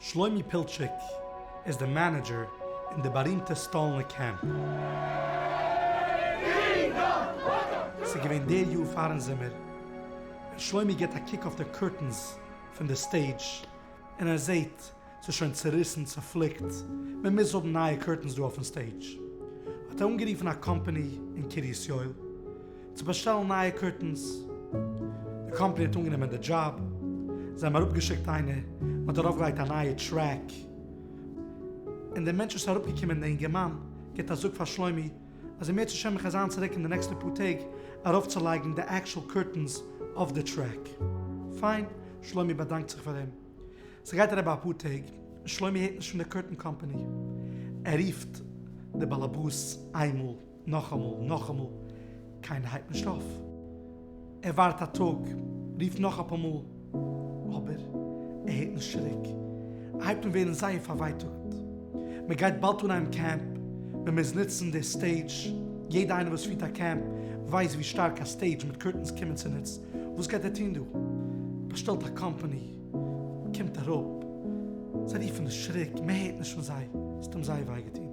שלומי פילטשיק איז די מענעדזשער אין די בארימטע סטאלנע קעמפ. ס'איז געווען די יאר פארן זומער, און שלומי גיבט א קוק אויף די קורטענס פון די סטעידזש, און ער זעהט ס'איז שוין צוריסן, צופליקט, מען מוז האבן נייע קורטענס דא אויפן סטעידזש. האט ער אנגערופן א קאמפאני אין קרית יואל צו באשטעלן נייע קורטענס. די קאמפאני האט אנגענומען די דזשאב. זיי האבן אראפגעשיקט איינער, מען האט ארויפגעלייגט א נייע טרעק, און דער מענטש וואס איז אראפגעקומען, דער אינגערמאן, גיבט א זאג פאר שלומי אז ער מער צו שעמען חזר'ן צוריק אין די נעקסטע פאר טעג ארויפצולייגן די עקשול קורטענס אויף די טרעק. פיין, שלומי באדאנקט זיך פאר אים. ס'גייט אריבער אפאר טעג און שלומי הערט נישט פון די קארטון קאמפאני. ער רופט די באלעבאס איינמאל, נאכאמאל, נאכאמאל, קיינער הייבט נישט אויף. ער ווארט א טאג, רופט נאך אפאר מאל, אבער ער הערט נישט צוריק. ער הייבט אן ווערן זייער פארווייטאגט. מ'גייט באלד אנהייבן קעמפ, מ'מוז נוצן די סטעידזש. יעדער איינער וואס פירט א קעמפ ווייסט ווי שטארק א סטעידזש מיט קארטונס קומען צוניץ. וואס גייט ער טון דא? באשטעלט א קאמפאני, קומט אראפ, זיי רופן די שריק, מען הערט נישט פון זיי, ס'האט אים זייער וויי געטון.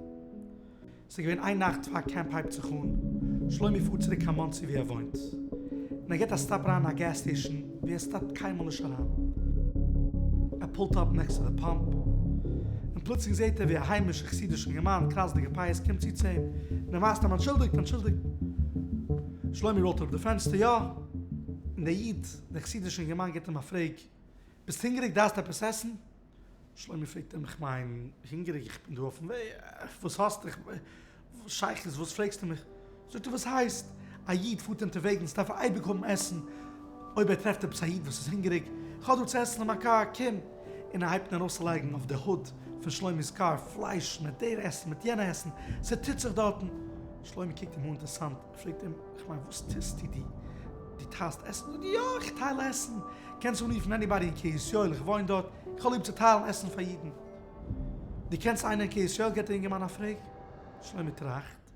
ס'איז געווען איין נאכט פאר קעמפ הייבט זיך אן, שלומי פארט צוריק קיין מאנסי ווי ער וואוינט, און ער גיבט א סטאפ אריין אין א געז סטעישן ווי ער סטאפט קיינמאל נישט אריין, ער פולט אפ נעקסט צו די פאמפ, און פלוצלינג זעט ער ווי א היימישע חסידיש אינגערמאן, קראצדיגע פאות, קומט צו צו אים, און ער ווייזט אים אנטשולדיגט, אנטשולדיגט. שלומי ראלט אראפ די פענסטער, יא? און דער איד, דער חסידישע אינגערמאן גיט אים א פרעג, ביסט הונגעריג? דארפסט עפעס עסן? שלומי פרעגט אים, איך מיין, הונגעריג? איך בין דא אויפן וועג, וואס האסטו? איך מיין, וואס שייך עס? וואס פרעגסטו מיך? זאגט ער, וואס הייסט? א איד פארט אונטערוועגנס, דארף ער אייביג האבן עסן, אויב ער טרעפט עפעס א איד וואס איז הונגעריג, איך האב דא צו עסן אין מיין קאר, קום! און ער הייבט אן ארויסצולייגן אויף די הוד פון שלומי'ס קאר, פלייש מיט דער עסן, מיט יענע עסן, ס'טוט זיך דארטן. שלומי קוקט אים אן אינטערסאנט, פרעגט אים, כ'מיין וואס טוסטו דו? דו טיילסט עסן? זאגט ער, יא, איך טייל עסן, קענסט אנרופן עניבאדי אין קרית יואל, איך וואוין דארט, איך האב ליב צו טיילן עסן פאר אידן. דו קענסט איינער אין קרית יואל? גיבט דער יונגערמאן א פרעג. שלומי טראכט,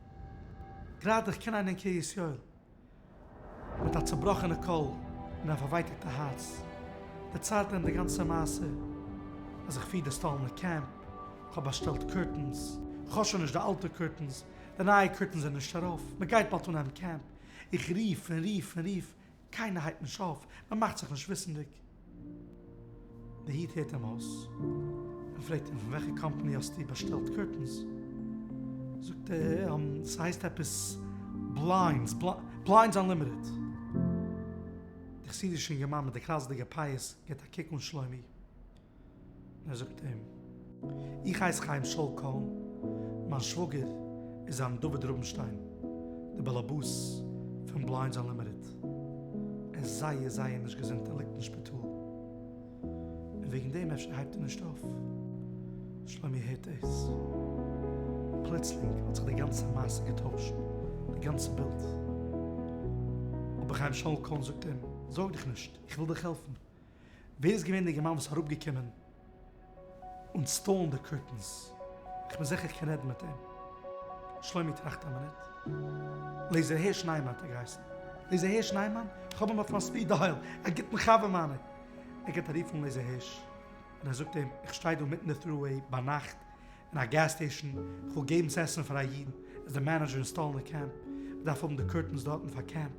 גראדע, איך קען איינער אין קרית יואל. מיט א צובראכענע קול און א פארווייטאגטע הארץ דערציילט ער אים די גאנצע מעשה, אז איך פיר די סטאלינע קעמפ, כ'האב באשטעלט קורטענס, כ'האב שוין נישט די אלטע קורטענס, די נייע קורטענס זענען נישט ארויף, מען גייט באלד אנהייבן קעמפ, איך רוף און רוף און רוף, קיינער הייבט נישט אויף, מען מאכט זיך נישט וויסענדיג. די איד הערט אים אויס און פרעגט אים פון וועלכע קאמפאני האסטו באשטעלט קורטענס? זאגט ער ס'הייסט עפעס בליינדס, בליינדס אנלימיטעד. די חסידישע אינגערמאן מיט די קראצעדיגע פאות גיבט א קוק אן שלומי. ער זאגט אים, איך הייס חיים שאול קאהן, מיין שוואגער איז זיין דוד רובינשטיין, דער באלעבאס פון בליינדס אנלימיטעד. ער איז זייער זייער נישט געזונט און ליגט אין שפיטאל. און וועגן דעם אפשר הייבט ער נישט אויף. שלומי הערט דאס. פלוצלינג האט זיך די גאנצע מעשה געטוישט, די גאנצע בילד. אבער חיים שאול קאהן זאגט אים, זארג דיך נישט, איך וויל דיך העלפן. ווער איז געווען די געמיין וואס איז אראפגעקומען אונסטאלן די קורטענס? איך בין זיכער איך קען רעדן מיט אים. שלומי טראכט א מינוט. לעיזער הערש ניימאן האט ער געהייסן. לעיזער הערש ניימאן? איך האב אים אויף מיין ספיד דייל. א גוטן חבר מיינער. ער גייט ארופן לעיזער הערש און ער זאגט אים איך שטיי דא מיטן די טרו-וועי ביינאכט אין א געז סטעישן, כ'וויל געבן צעסן פאר א איד, איז די מענעדזשער אין סטאלינע קעמפ, מ'דארף האבן די קורטענס דארטן פאר קעמפ.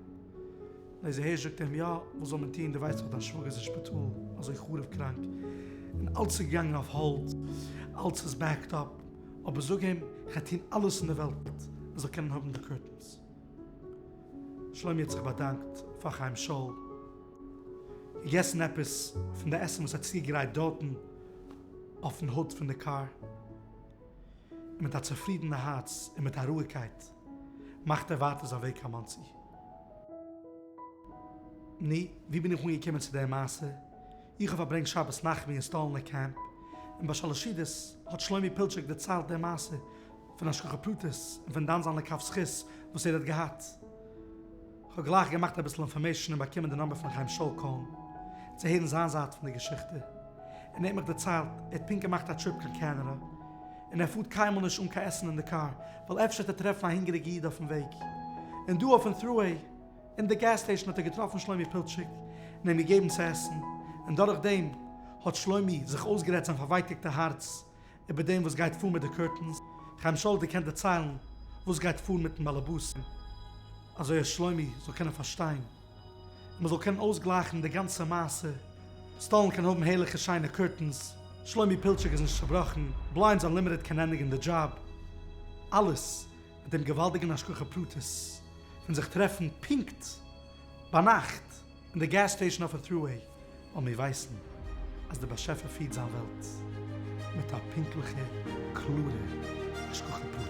לעזער הערש זאגט איהם יא, וואס זאל מען טוהן, דו ווייסט דאך דיין שוואגער איז אין שפיטאל, אזוי חרוב קראנק, און אלץ איז געגאנגען אויף האלד, אלץ איז בעקד אפ, אבער זאג איהם כ'גיי טוהן אלעס אין די וועלט ער זאל קענען האבן די קורטענס. שלומי האט זיך באדאנקט פאר חיים שאול, געגעסן עפעס פון די עסן וואס ער האט צוגעגרייט דארטן, אויפן הוד פון די קאר, און מיט א צופרידענע הארץ און מיט א רואיגקייט מאכט ער ווייטער זיין וועג קיין מאנסי. נו, ווי בין איך אנגעקומען צו די מעשה? איך האב פארברענגט שבת נחמו אין סטאלינער קעמפ, און ביי שאלעשידעס האט שלומי פילטשעק דערציילט די מעשה פון השגחה פרטית און פון דאן זיינע קו זכות וואס ער האט געהאט, כ'האב גלייך געמאכט אביסל אינפארמעישן און באקומען די נאמבער פון חיים שאול קאהן צו הערן זיין זייט פון די געשיכטע, און ער האט מיך דערציילט ער האט פונקט געמאכט א טריפ קיין קענעדע און ער פארט קיינמאל נישט אן קיין עסן אין די קאר ווייל אפשר האט ער טרעפן א הונגעריגע איד אויפן וועג, און דא אויפן טרואוועי אין די געז סטעישן האט ער געטראפן שלומי פילטשיק און אים געגעבן צו עסן, און דורך דעם האט שלומי זיך אויסגערעדט זיין פארווייטאגטע הארץ איבער דעם וואס גייט פאר מיט די קורטענס, חיים שאול'דיג קען דערציילן וואס גייט פאר מיטן באלעבאסים, אזוי אז שלומי זאל קענען פארשטיין, און מ'זאל קענען אויסגלייכן די גאנצע מעשה, סטאלין קען האבן הערליכע שיינע קורטענס, שלומי פילטשיק איז נישט צובראכן, בליינדס אנלימיטעד קען ענדיגן די דזשאב, אלעס מיט דעם געוואלדיגן השגחה פרטית פון זיך טרעפן פונקט ביינאכט. אין די געז סטעישן אויפן טרו-וועי וועלן מיר ווייסן אז דער באשעפער פירט זיין וועלט מיט א פונקטליכע קלארע השגחה פרטית.